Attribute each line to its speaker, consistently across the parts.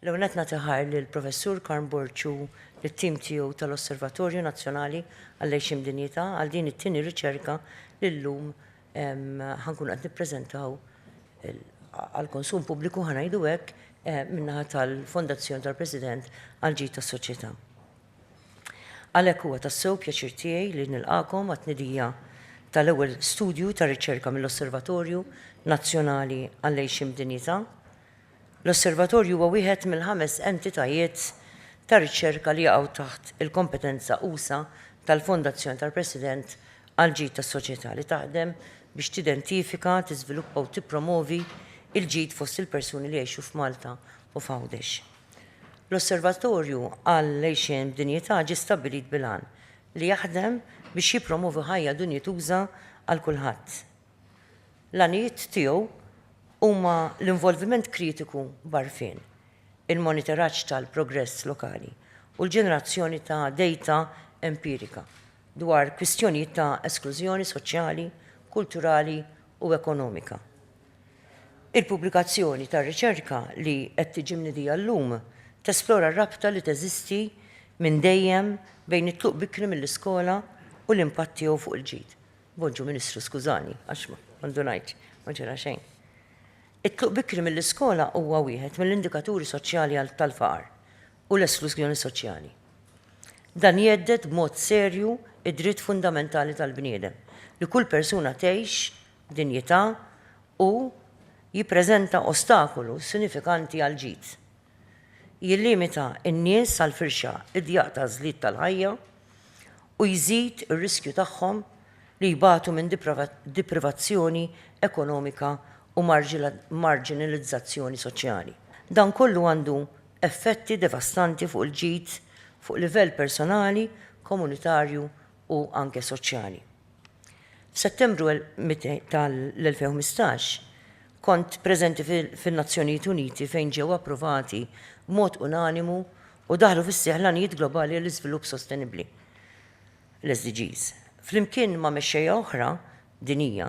Speaker 1: L-ewwel nett nagħti ħajr lill-Professur Karm Borg u lit-tim tiegħu tal-Osservatorju Nazzjonali għall-Għajxien b'Dinjità għal din it-tieni riċerka li llum ħa nkunu qed nippreżentaw għall-konsum pubbliku ħa ngħidu hekk min-naħa tal-Fondazzjoni tal-President għall-Ġid tas-Soċjetà. Għalhekk huwa tassew pjaċir tiegħi li nilqagħkom għat-tnedija tal-ewwel studju ta' riċerka mill-Osservatorju Nazzjonali għall-Għejxien b'Dinjità. L-Osservatorju huwa wieħed mill-ħames entitajiet ta' riċerka li jaqgħu taħt il-kompetenza usa' tal-Fondazzjoni tal-President għall-Ġid tas-Soċjetà li taħdem biex tidentifika, tiżviluppa u tippromovi l-ġid fost il-persuni li jgħixu f'Malta u f'Għawdex. L-Osservatorju għall-Għixien b'Dinjità ġie stabbilit bil-għan li jaħdem biex jippromovi ħajja dinjituża għal kulħadd. L-għanijiet tiegħu huma l-involviment kritiku b'għarfien, il-monitoraġġ tal-progress lokali u l-ġenerazzjoni ta' dejta empirika dwar kwistjonijiet ta' esklużjoni soċjali, kulturali u ekonomika. Il-pubblikazzjoni ta' riċerka li qed tiġi mnidija llum tesplora r-rabta li teżisti minn dejjem bejn it-tluq bikri mill-iskola u l-impatt tiegħu fuq il-ġid. Bonġu Ministru skużani għax ma ndunajtx, ma ġara xejn. It-tluq bikri mill-iskola huwa wieħed mill-indikaturi soċjali tal-faqar u l-esklużjoni soċjali. Dan jhedded b'mod serju d-dritt fundamentali tal-bniedem li kull persuna tgħix dinjità u jippreżenta ostakolu sinifikanti għall-ġid. Jillimita n-nies għal firxa idjaq t'għażliet tal-ħajja u jżid ir-riskju tagħhom li jbatu minn deprivazzjoni ekonomika u marġinalizzazzjoni soċjali. Dan kollu għandu effetti devastanti fuq il-ġid fuq livell personali, komunitarju u anke soċjali. F'Settembru tal-2015, kont preżenti fin-Nazzjonijiet Uniti fejn ġew approvati b'mod unanimu u daħlu fis-seħħ l-Għanijiet Globali għall-Iżvilupp Sostenibbli, l-SDGs. Flimkien ma' mexxejja oħra dinjija,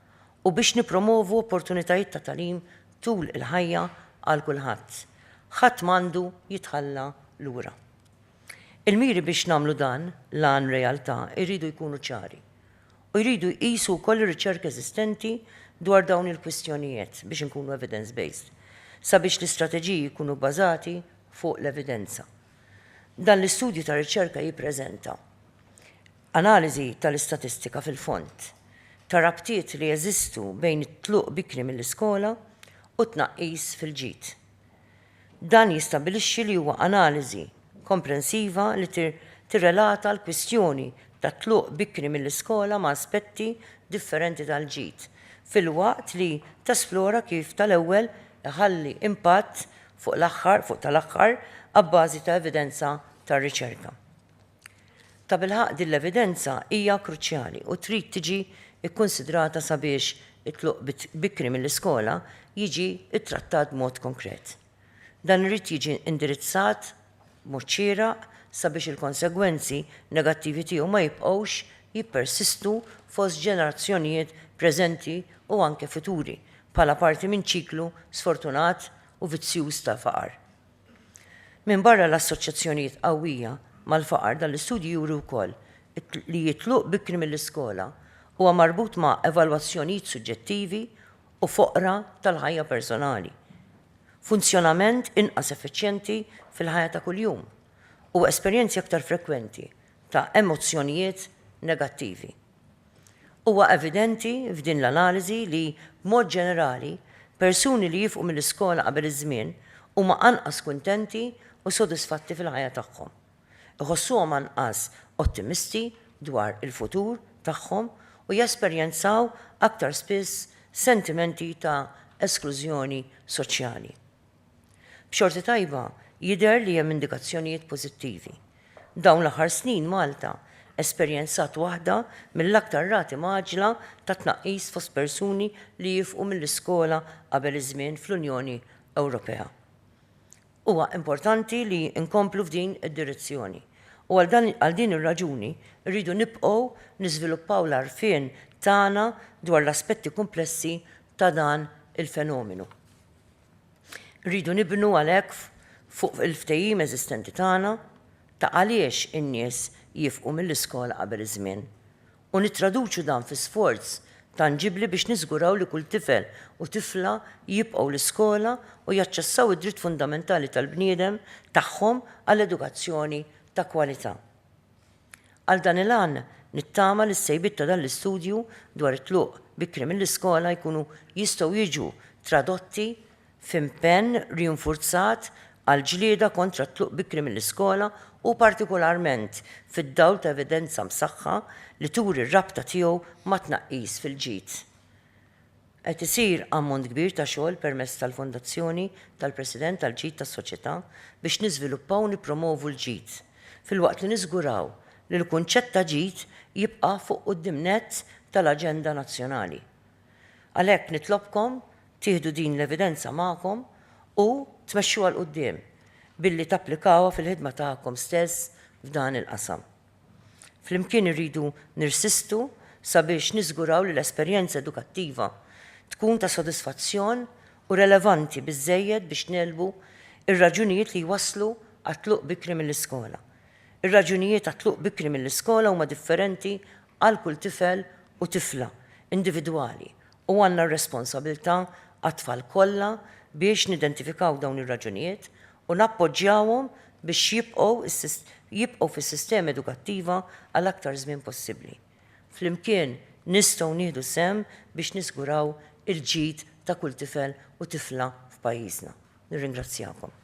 Speaker 1: u biex nippromovu opportunitajiet ta' tagħlim tul il-ħajja għal kulħadd. Ħadd m'għandu jitħalla lura. Il-miri biex nagħmlu dan l-għan realtà jridu jkunu ċari u jridu jqisu wkoll ir-riċerka eżistenti dwar dawn il-kwistjonijiet biex inkunu evidence-based, sabiex l-istrateġiji jkunu bbażati fuq l-evidenza. Dan l-istudju ta' riċerka jippreżenta Analiżi tal-istatistika fil-fond tar-rabtiet li jeżistu bejn it-tluq bikri mill-iskola u t-tnaqqis fil-ġid. Dan jistabbilixxi li huwa analiżi komprensiva li tirrelata l-kwistjoni tat-tluq bikri mill-iskola ma' aspetti differenti tal-ġid, filwaqt li tesplora kif tal-ewwel iħalli impatt fuq tal-aħħar abbażi ta' evidenza tar-riċerka. Tabilħaqq din l-evidenza hija kruċjali u trid tiġi kkunsidrata sabiex it-tluq bikri mill-iskola jiġi ttrattat b'mod konkret. Dan irid jiġi indirizzat b'mod xieraq sabiex il-konsegwenzi negattivi tiegħu ma jibqgħux jippersistu fost ġenerazzjonijiet preżenti u anke futuri bħala parti minn ċiklu sfortunat u vizzjuż ta' faqar. Minbarra l-assoċjazzjonijiet qawwija mal-faqar dan l-istudju juri wkoll li t-tluq bikri mill-iskola huwa marbut ma' evalwazzjonijiet suġġettivi u foqra tal-ħajja personali, funzjonament inqas effiċjenti fil-ħajja ta' kuljum, u esperjenzi aktar frekwenti ta' emozzjonijiet negattivi. Huwa evidenti f'din l-analiżi li, b'mod ġenerali, persuni li jifqu mill-iskola qabel iż-żmien huma anqas kuntenti u sodisfatti fil-ħajja tagħhom. Iħossuhom anqas ottimisti dwar il-futur tagħhom u jesperjenzaw aktar spiss sentimenti ta' esklużjoni soċjali. B'xorti tajba, jidher li hemm indikazzjonijiet pożittivi. Dawn l-aħħar snin Malta esperjenzat waħda mill-aktar rati mgħaġġla ta' tnaqqis fost persuni li jifqu mill-iskola qabel iż-żmien fl-Unjoni Ewropea. Huwa importanti li nkomplu f'din id-direzzjoni u għal din ir-raġuni rridu nibqgħu niżviluppaw l-għarfien tagħna dwar l-aspetti kumplessi ta' dan il-fenomenu. Irridu nibnu għalhekk fuq il-ftehim eżistenti tagħna ta' għaliex in-nies jifqu mill-iskola qabel iż-żmien u nittraduċu dan fi sforz tanġibbli biex niżguraw li kull tifel u tifla jibqgħu l-iskola u jaċċessaw id-dritt fundamentali tal-bniedem tagħhom għal edukazzjoni ta' kwalità. Għal dan il-għan, nittama li s-sejbiet ta' dan l-istudju dwar it-tluq bikri mill-iskola jkunu jistgħu jiġu tradotti f'impenn rinfurzat għall-ġlieda kontra t-tluq bikri mill-iskola u partikolarment fid-dawl ta' evidenza msaħħa li turi r-rabta tiegħu mat-tnaqqis fil-ġid Qed isir ammont kbir ta' xogħol permezz tal-Fondazzjoni tal-President għall-Ġid tas-Soċjetà biex niżviluppaw u nippromovu l-ġid, filwaqt li niżguraw li l-kunċett ta' ġid jibqa' fuq quddiem nett tal-aġenda nazzjonali. Għalhekk nitlobkom tieħdu din l-evidenza magħkom u tmexxuha 'l quddiem billi tapplikawha fil-ħidma tagħkom stess f'dan il-qasam. Flimkien irridu nirsistu sabiex niżguraw li l-esperjenza edukattiva tkun ta' sodisfazzjon u relevanti biżżejjed biex negħlbu r-raġunijiet li jwasslu għat-tluq bikri mill-iskola. Ir-raġunijiet għat-tluq bikri mill-iskola huma differenti għal kull tifel u tifla individwali U għandna r-responsabilità għat-tfal kollha biex nidentifikaw dawn ir-raġunijiet u nappoġġjawhom biex jibqgħu jibqgħu fis-sistema edukattiva għal aktar żmien possibbli. Flimkien nistgħu nieħdu sehem biex niżguraw il-ġid ta' kull tifel u tifla f'pajjiżna. Nirringrazzjakom.